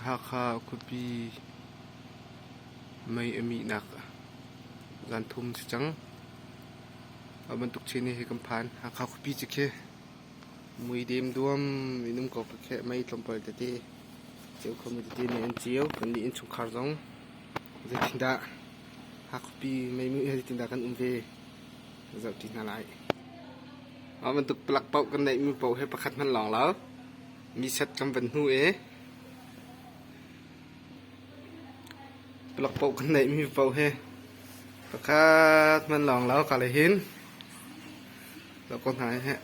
Hakha khuapi mei a mihnak zanthum si cang. A bantuk chin hi kan phan. Hakha khuapi cu khi mui dem duam inum ko khi kheh mei tlawmpal tete ceu khomi tete nih an ceu. Kannih innchungkhar zong zeitindah hakha khuapi mei hi zeitindah kan um ve? Mah bantuk palak paoh kan neihmi paoh he pakhat hmanh lawng lo mi set kan van hnu i palak paoh kan neihmi paoh he pakhat hmanh lawng lo kaleh hin lo ko hna heh.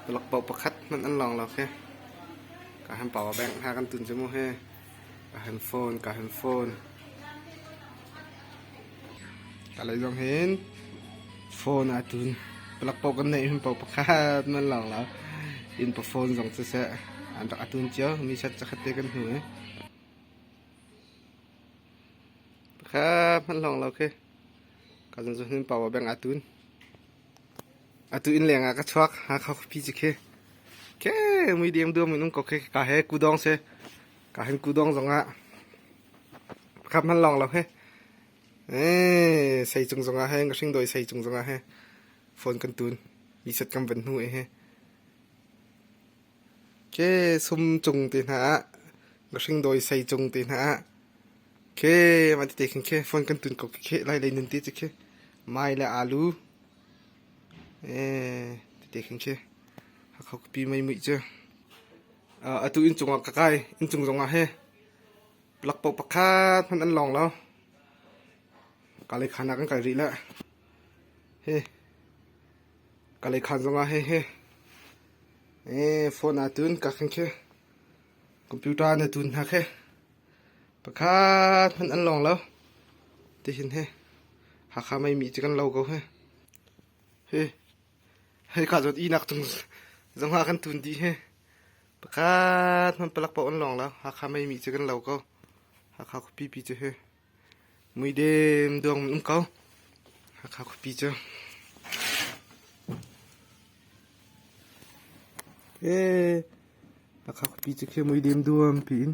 Palak paoh pakhat hmanh an lawng lo khi ka han paoa beng hna kan tun cu mu he. Kalay zong hin phone ah tun palak paoh kan neih hun paoh pakhat nan lawng lo. Inn pa phone zong siseh an rak a tun cio. Mi chat cakhat te kan hnu i. Pakhat hmanh lawng lo khi. Ka zong zun hin paoh ah beng aa tun. Atu inn leng ah ka chuak Hakha khuapi cu khi khi muideng duam in um ko khi ka he kudong si ka hen kudong zong ah khat hman lawng lo he eh sei cung zong ah hen ka hring dawi sei cung zong ah he phone kan tun mi set kan van hnu e he ke sum cung te hna ah ka hring dawi sei cung te hna ah ke man te khin ke phone kan tun ko khi lai lei nun te cu khi mai le alu Tete khing khi Hakha khuapi meimuih cu atu inn cungah ka kai. Inn cung zongah hi plakpaoh pakhat hmanh an lawng lo. Kalay khan ah kan kal rih le hi Kalay khan zongah hi hi phone ah tun ka khing khi computer na tun hna khi Pakhat hmanh an lawng lo. Tihin hi Hakha Maimi cu kan lo ko hi. Hi hika zawt inak cung zongah kan tun dih hi. Pakhat hmanh palak paoh an lawng lo. Hakha Maimi cu kan lo ko. Hakha khuapipi cu hi. Muidem dawng in um ko. Hakha khuapi cu. Ee, Hakha khuapi cu khi muidem duam pi in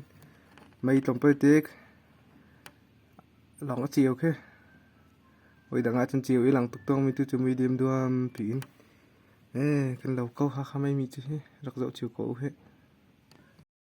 mei tlong poi tek. Lawng a ceu khi. Oi dang ahcun ceu i lang tuk tong mi tu cu muidem duam pi in. Ee, kan lo ko Hakha mei mi cu hi. Rak zoh chiu ko u hi.